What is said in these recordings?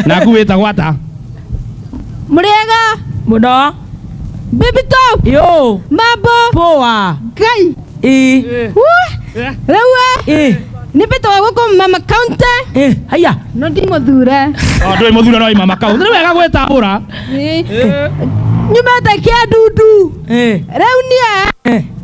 naku wĩtagwo ata Murega. Muno. Baby top. Yo. Mambo. Poa. Ngai. Ĩ. Wah. Rĩu ĩ. Nĩ mbĩtwo gũkũ mama county. Ĩ. Haya. No ndimũthure. O, ndũĩ mũthura no imama kau nĩ wega gwĩtambũra Ĩ. Nyumĩte kĩa ndundu. Ĩ. Rĩu niĩ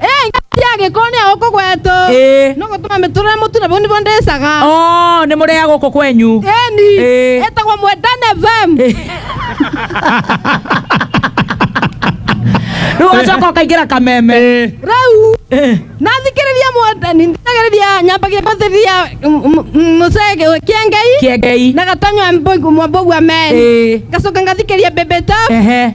ĩ ngati ya gĩko nĩ ya gũkũ gwetũ Ĩ. no gũtũma mĩtũrĩre mũtune bau nĩbo ndĩcaga Oh, nĩ mũrĩa gũkũ kwenyu ĩni Ĩ. ĩtagwo mwendane fm rĩu ũgacoka ũkaingĩra kameme Ĩ. rĩu Ĩ. nathikĩrĩria mwendani ndithagĩrĩria nyambagia gũthĩrĩria mũcege kĩengei kĩengei na gatanywa mwambogua meri Ĩ. ngacoka ngathikĩria bebeta Ehe.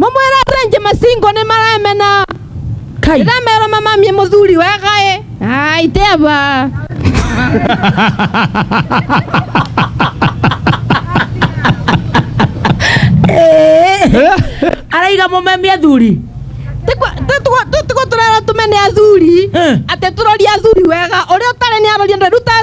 mũmwĩra renji masingo nĩ maremena kai ndĩramera mamamie mũthuri wegaĩ ai teba araiga mũmemi athuri tũtigo tũrera tũmene athuri Eh. atĩ tũroria athuri wega ũrĩa ũtarĩ nĩ aroria ndũrutaga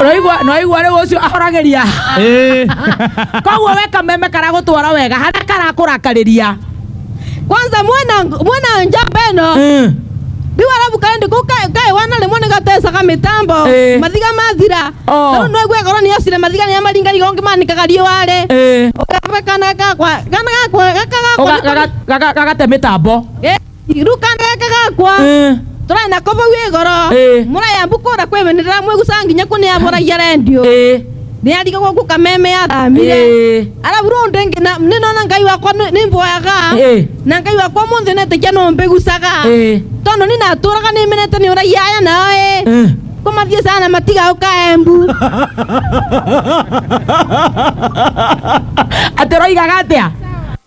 Ũraigua- nĩwaigua rĩu ũcio ahoragĩria Eh. koguo we kameme karagũtwara wega harĩa karakũrakarĩria kwanza mwena mwena njamba ĩno Mm. rĩu arabu kaendi kũ kaĩ wana rĩmwe nĩ gatecaga mĩtambo Eh. mathiga mathira Oh. rĩu nĩgwe ngoro nĩ yocire mathiga nĩ amaringariga ũngĩ manĩkaga riũarĩ Eh. ũkabekana gakwa kana gakwa gaka Ũga- gakwa gaga- gaga- gagate mĩtambo Eh. irukana ekagakwa Eh, tũrarĩ na kũbau ĩgoro Ĩĩ. mũraya mbukũra kwĩmenera mwĩgucaga nginya kũnĩabũragia rendio eh, nĩariga gũkũ kameme yathamire eh, arabu rĩu ndĩngĩ na- nĩnona ngai wakwa nĩ- nĩmboyaga eh, na ngai wakwa mũnthĩ netĩkia no mbĩgucaga eh, tondũ nĩ natũraga nĩmenete nĩ ũragia aya nao ĩ eh. kũmathiĩ sana matigaũka embu atĩ roigaga atĩa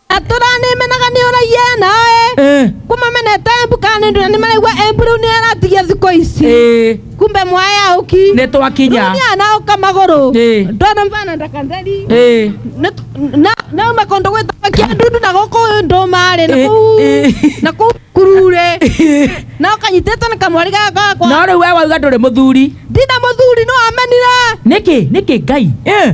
tũranĩmenaga nĩ ũraiya naĩ Eh, kũmamenete embu kana nĩ ndũna nĩ maraigua embu rĩu nĩ aratigia thikũ ici eh, kumbe mwaya ũki nĩ twakinya rĩu nĩ anaũka magũrũ Eh. ndona mvana ndakatheri Eh, Nĩ- na na uma kũndũ gwĩtagwo kĩandundu na gũkũ ndũmarĩ na Eh, kũu eh. na kũu kurure na ũkanyitĩte na kamwari gakakwa no rĩu we wauga ndũrĩ mũthuri ndina mũthuri no amenire nĩkĩ nĩkĩ ngai Eh,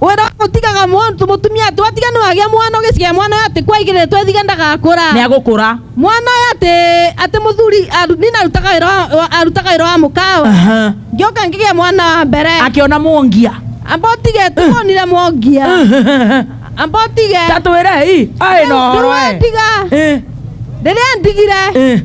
wera gutigaga muntu mutumia ati watiga ni wagia mwana ugiciga mwana ati kwaigire twethiga ndagakura nä agå kå ra mwana uyu ati ati muthuri aru- ni narutaga wira wa- wa- arutaga wira wa mukawe ngioka ngigia mwana wa mbere akä ona må ngia amba utige tuonire mwangia amba utige tatwä re i aä no horo tiga Eh, riria ndigire eh.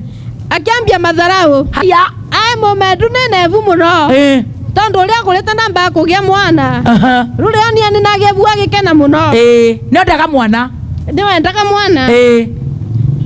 akiambia matharaũ haya ae mũmendu nĩ nebu mũno eh, tondũ ũrĩa kũrĩte na mbaa kũgĩa mwana aha, rũrĩa onia nĩ nagebu agĩkena mũno eh, nĩ endaga mwana nĩ wendaga mwana eh,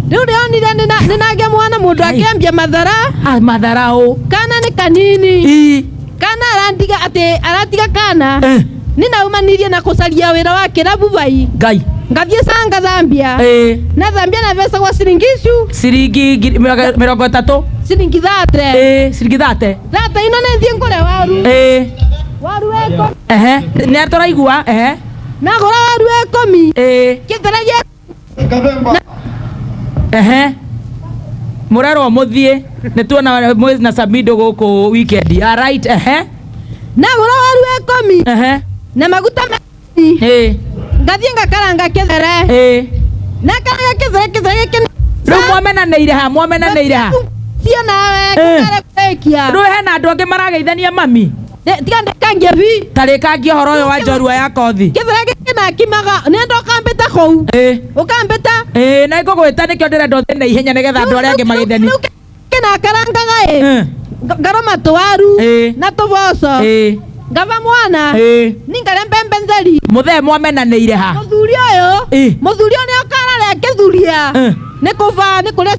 rĩu rĩa onire nĩ na- nĩ nagĩa mwana mũndũ Ai. akĩambia mathara ah, matharaũ kana nĩ kanini Ii. kana arandiga atĩ aratiga kana Eh. nĩ naumanirie na kũcaria wĩra wa kĩrabu bai ngai ngathiĩ canga thambia Eh. na thambia na mbeca gwa ciringi icu ciringi ngiri- mĩrongo- mĩrongo ĩtatũ ciringi thate Eh, ciringi thate thate ino nĩ thiĩ ngũre waru Eh, waru weko ehe nĩ tũraigua ehe nagũra waru wekũmi Eh. kĩthera gĩa Kavemba. ehe murerwo muthie nituona mwezi na samido guku weekend alright ehe na mũrũaru ekomi ehe na maguta meni eh ngathiĩ ngakaranga kĩthere eh na karanga kĩthere kĩthere gĩkĩ riu mwamenaneire ha mwamenaneire ha cio nawe Eh. kũrekia riu hena andu angi marageithania mami Ĩ, tiga ndĩkangie bi tarĩkangia ũhoro ũyũ wa njorua ya kothi gĩthũra gĩkĩ nakimaga nenda ũkambĩta kũu Ĩ, ũkambĩta ĩ, na ngũgwĩta nĩkĩo ndĩrenda ũthiĩ na ihenya nĩgetha andũ arĩa angĩ magĩtheni Rĩu kĩ nakarangaga ĩ Ĩ, Nga- ngaroma tũwaru Ĩ. na tũboco ĩ, ngava mwana ĩ. ningare mbembe ntheri mũthee mwamenanĩire ha mũthuri ũyũ Ĩ. mũthuri ũyũ nĩ ũkararĩa kĩthuria Ĩ. nĩ kũba nĩ kũrĩa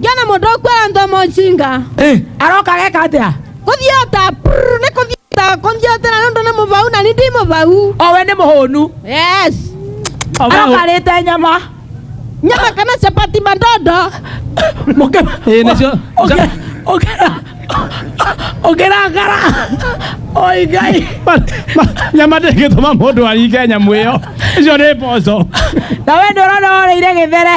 Jona mũndũ ũkwĩra ndomo njinga Eh, aroka geka atia kũthiota prrr, nĩ kũthiota kũthiotera nĩ ũndũ nĩ mũbau na nĩ ndi mũbau owe nĩ mũhũnu yes arokarĩte nyama nyama kana chapati mandondo Mũkĩra- Ĩĩ, nĩcio. Ũkĩra- ũkĩra- ũkĩrakara oi ngai nyama ndĩngĩtũma mũndũ aringe nyamũ ĩyo icio nĩ mboco na we nĩ ũrona woreire gĩthere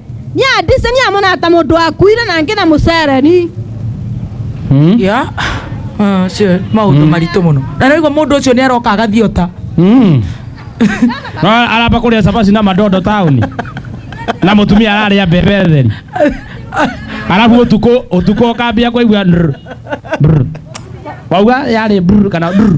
Ni adise ni amona ata mundu akuire na ngi na mucereni. Mm. ya Ah, cio maundu maritu muno na naigua mundu ucio ni aroka agathiota Mm. No, aramba kũrĩa cabaci na madondo taũni na mũtumia ararĩa mbembe theri arabu ũtukũ ũtukũ ũkambia kũigua ndr, brr. wauga yarĩ brr kana brr.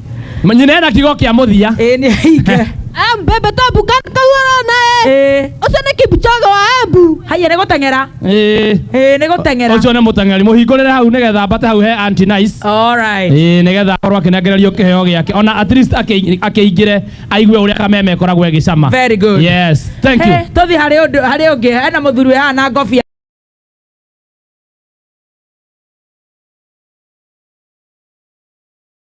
nyinera kigo kĩa mũthia ĩĩ nĩ hinge Eh, mbembe tabu kana kauara naye ĩĩ ucio ni kipchoge wa embu haiya nĩ gũteng'era Ĩĩ. ĩĩ nĩ gũteng'era ũcio nĩ mũteng'eri mũhingũrĩre hau nĩgetha mbate hau he anti nice Alright. Ĩĩ, nĩgetha akorwo akĩnengererio kĩheo gĩake ona at least akĩ- akĩingĩre aigue ũrĩa kameme ĩkoragwo ĩgĩcama Very good. yes thank you He, tũthiĩ harĩ ũndũ harĩ ũngĩ hena mũthuri ũyũ haha na ngobia